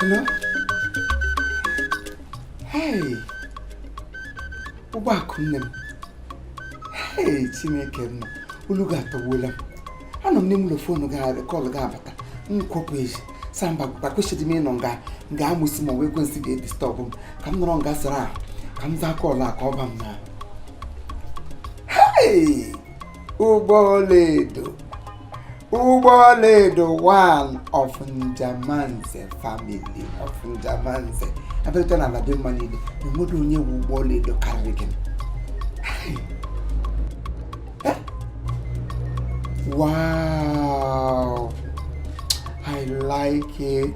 Hello? Hey! Ụgbọ akụ nne m. Hey, Chineke m. Olu gị atọgbuola m. Anọ m n'ime ụlọ foonu kọlụ gị abata. M kwọpụ ezi. Sị mba kwesịrị m ịnọ nga amụsụ ma ọ wụ ekwensu ga-edistọbụ m ka m nọrọ nga sara ahụ ka m zaa kọlụ a ka ọ ba m n'ahụ. Hey! ụgbọ ọlaedo ụgbọ ọlaedo one of njemanze family of njemanze abịarịta na ala dị mma niile enweghị onye wu ụgbọ ọlaedo karịrị gị wow i like it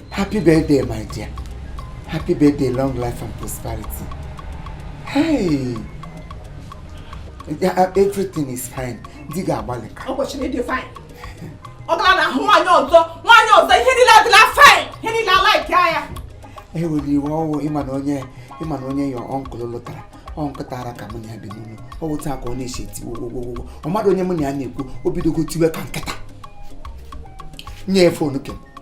Happy birthday, my dear. Happy birthday, long life and prosperity. Hey! Uh, everything is fine. Di gị agbalịka. Ọ kwesịrị ịdị fine. Ọ gara na ahụ nwaanyị ọzọ, nwaanyị ọzọ ihe niile adịla fine, ihe niile alaiki anya. Ewela iwe o ị ma na onye ị ma na onye your uncle lụtara ọ nkịta ara ka mụ na ya bi n'ụlọ ọ wụ otu a ka ọ na-esi eti gwogwogwogwo ọ mmadụ onye mụ na ya na-ekwu o bidogo tiwe ka nkịta nye fonu kem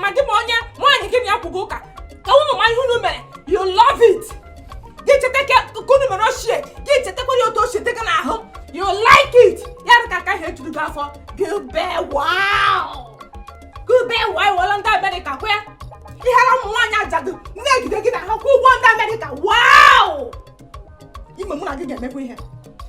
ma gị ma onye nwaanyị gị na ya kwugo ụka ka m ma ihe unu mere you love it gị cheta ka unu mere ochie gị chetakwara otu ochie dị gị n'ahụ you like it ya dị ka aka ihe juru gị afọ gị bee wow gị bee wow wọrọ ndị amerịka kwe ihere ụmụ nwaanyị ajadu na-egide gị na ha kwụ ụgwọ ndị amerịka wow ime mụ na gị ga-emekwa ihe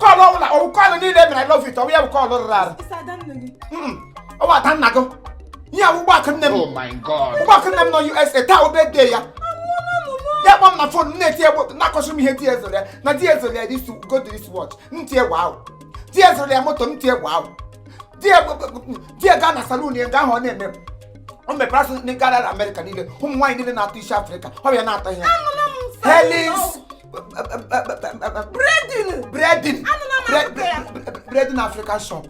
kọlụ ọ wụla ọ wụ kọlụ niile mere I love you ọ wụ ya bụ kọlụ rụrụ arụ Isi ada nne gị. Mm, ọ wụ ada nna gị ihe a wụ ụgbọakụ nne m Oh my God. ụgbọakụ nne m nọ USA taa ọ birthday ya ya kpọọ m na fon na-eti egbo na-akọsịrị m ihe di ya zụrụ ya na di ya zụrụ ya this go to this watch m tie wow di ya zụrụ ya moto m tie wow di ya gbo- di ya ga na salon ya nga ahụ ọ na-eme m. o mepere a sị ndị gara amerịka niile ụmụ nwaanyị niile na-atụ isi afrịka ọ bụ ya na-atụ ihe Anụla m Helis braiding braiding Anụla m akụkọ ya. braiding african shop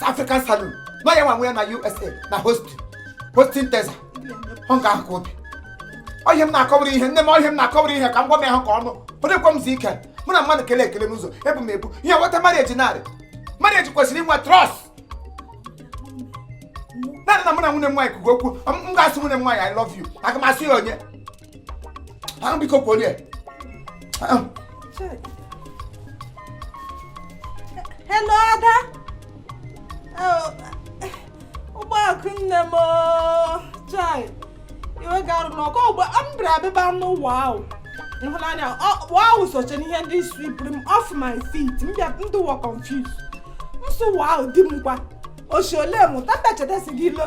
african salon na ọ ya nwe nwe ya na usa na houston texas ọ nga ahụ ka o bi ọ ihe a m na-akọwara ihe nne m ọ ihe a m na-akọwara ihe ka m gwa m ya ha ka ọnụ ọ dịkwa m zi ike mụ na mmadụ kele ekele n'ụzọ ebu m ebu ihe nweta marriage na marriage kwesịrị inwe trust naanị na mụ na nwanne m nwaanyị kwugo okwu m m ga-asị nwanne m nwaanyị i love you aga m asị ya onye ahụ biko kwuo ya hello ada oh, ụgbọakụ nne m oh, chai iwe garụ n'ọkụ ọgba mbra abịba n'ụwa ahụ ịhụnanya ọkpụ ahụ soche n'ihe ndị swipụrụ m off my feet m bịa dịwa confused nsụ ụwa ahụ di m kwa oshi ole mụ tata chetasi gị ilo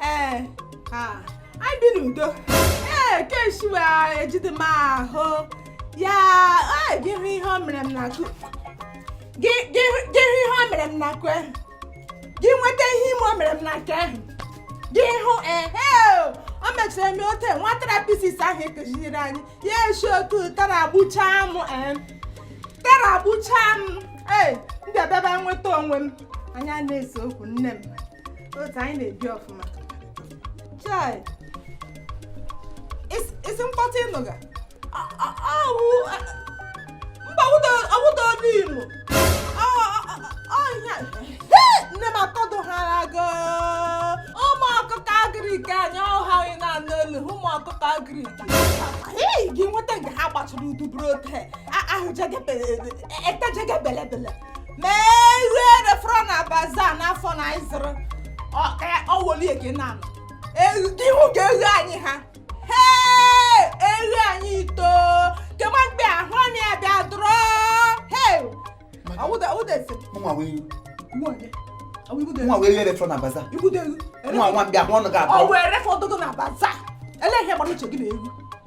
ee anyị bi n'udo ee keshi iwe ejide m ahụ ya gị hụ ihe o mere m n'aka ahụ gị hụ ihe o mere m n'aka ahụ gị nweta ihe ime o mere m n'aka ahụ gị hụ ihe o mechara eme ote nwa therapist ahụ akụziri anyị ya eshi otu tara gbuchaa m tara gbuchaa m ee m bịa bịaba nweta onwe m anyị ana-ese okwu nne m otu anyị na-ebi ọfụma chai ị sị mkpọtụ ị nụga mba ọ wụda ọdụ imo ọhịa nne m akọdụ ha agụ ụmụ ọkụkọ agric anyị ọ ha gị na-anụ olu ụmụ ọkụkọ agric gị nweta nke ha gbachara udu buru ote ahụ etejegebelebele ma ihe e refọrọ na bazaar n'afọ na anyị zụrụ ọ- ka ya- ọ wụ olu ya gị na-anụ Eghu- ị hụga eghu anyị ha hee eghu anyị ito kema mgbe ahụ anyị abịa dụrọ hee ọwụda ọwụda ese nwa wee nwa onye ọwụ ibudo nwa wee e refọ na bazaar ibudo eghu nwa nwa m bịa hụ ọnụ ga-abụ ọ wụ e refọdụgo na bazaar ele ihe gbara uche gị na egwu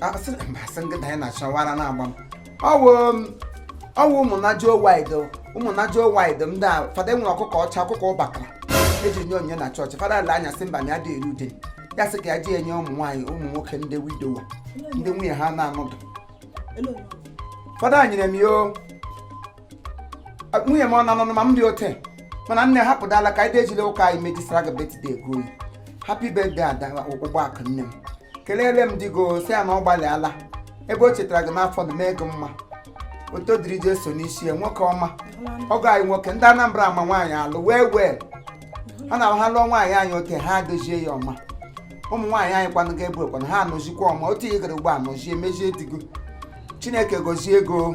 asị na- mba, asị nkịta ya na-achọ wara na-agba m ọwụ m- ọwụ ụmụnajuo wide ụmụnajuo wide ndị a fada e nwere ọkụkọ ọcha ọkụkọ ụbakara e ji nye onyinye na chọọchị fada lee anya sị mba na ya adị eri ụdị ya sị ka ya ji enye ụmụ nwaanyị ụmụ nwoke ndị widower ndị nwunye ha na-anọdụ fada nyere m ya o nwunye m ọ na-anọ ma m dị ote mana nne hapụdala ka anyị ejila ụka anyị mejisara gị birthday gị oyi happy birthday ada ụgbọ akụ nne m kelele m di gị o sị ya na ọ gbalịala ebe o chetara gị n'afọ na mee gị mma oto dịrị Jeso n'isi ya nwoke ọma ọgọ anyị nwoke ndị anambra ama nwaanyị alụ wee wee a na ha lụọ nwaanyị anyị ote ha adozie ya ọma ụmụ nwaanyị anyị kwanụ gaa ebe ahụ kwanụ ha anọzikwa ọma otu ihe gara ugbu a nọzie mezie di gị o chineke gozie gị o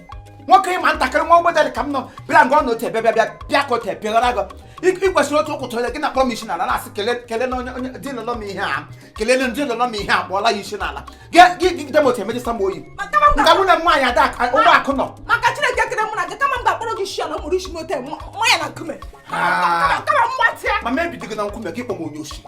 nwoke ị ma ntakịrị nwa ogbede ka m nọ bịara nga ọ na ote bịa bịa bịa ka ote pịghara gị ị kwesịrị otu ụkwụ tụrụ gị na kpọrọ m isi n'ala na-asị kele kele na onye onye di lọlọ m ihe a kelele ndị lọlọ m ihe a kpọọra ya isi n'ala gị gị gị dem otu emejisa m oyi nga nwunye m nwaanyị ada aka ụgbọ akụ nọ maka chineke kere mụ na gị kama m ga-akpọrọ gị isi ala mụrụ isi n'ote nwa ya na nkume kama m gbatịa ma m ebido gị na nkume gị kpọ m onye osi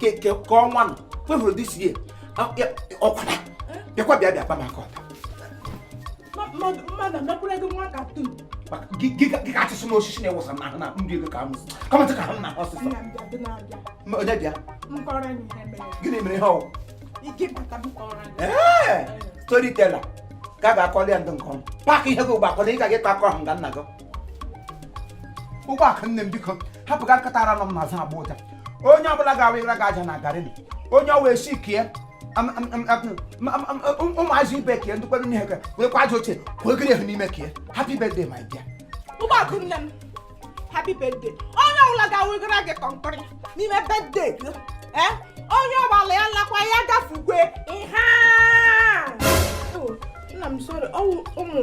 ka ọnwa nọ kwefuru this year ọkwara bịakwa bịa bịa kpama aka ọta gị ka achịsị m osisi na-ewụsa na ahụ na ndị ego ka m kọmentị ka ahụ na ọsịsọ onye bịa gịnị mere ihe ọ wụ storyteller ka a ga-akọli ya ndị nke ọma pack ihe gị ugbu akọli ị ga gị kọ akọ ahụ nga nna gị Ụgbọakụ nne m biko hapụga nkịta ara nọ m n'azụ agbọ ụja onye ọbụla ga-awụra gị aja na garri onye ọwa esi kie ụmụazị ibe kie ndị kwere n'ihe wee kwa aja ochie kwee gịrị ehu n'ime kie happy birthday my dear Ụgbọakụ nne m happy birthday onye ọbụla ga-awụra gị concrete n'ime birthday gị ee onye ọbụla ya lakwa ya gafugwe ihe a. Oh, nna m sorry ọ wụ ụmụ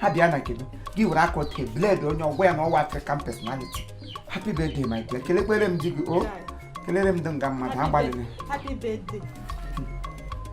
ha bịa na nke gị gị were aka ote bled onye ọ gwa ya na ọ wụ African personality happy birthday my dear kelekwere m di gị o kelere m dị nga mmadụ agbalịrị Happy birthday.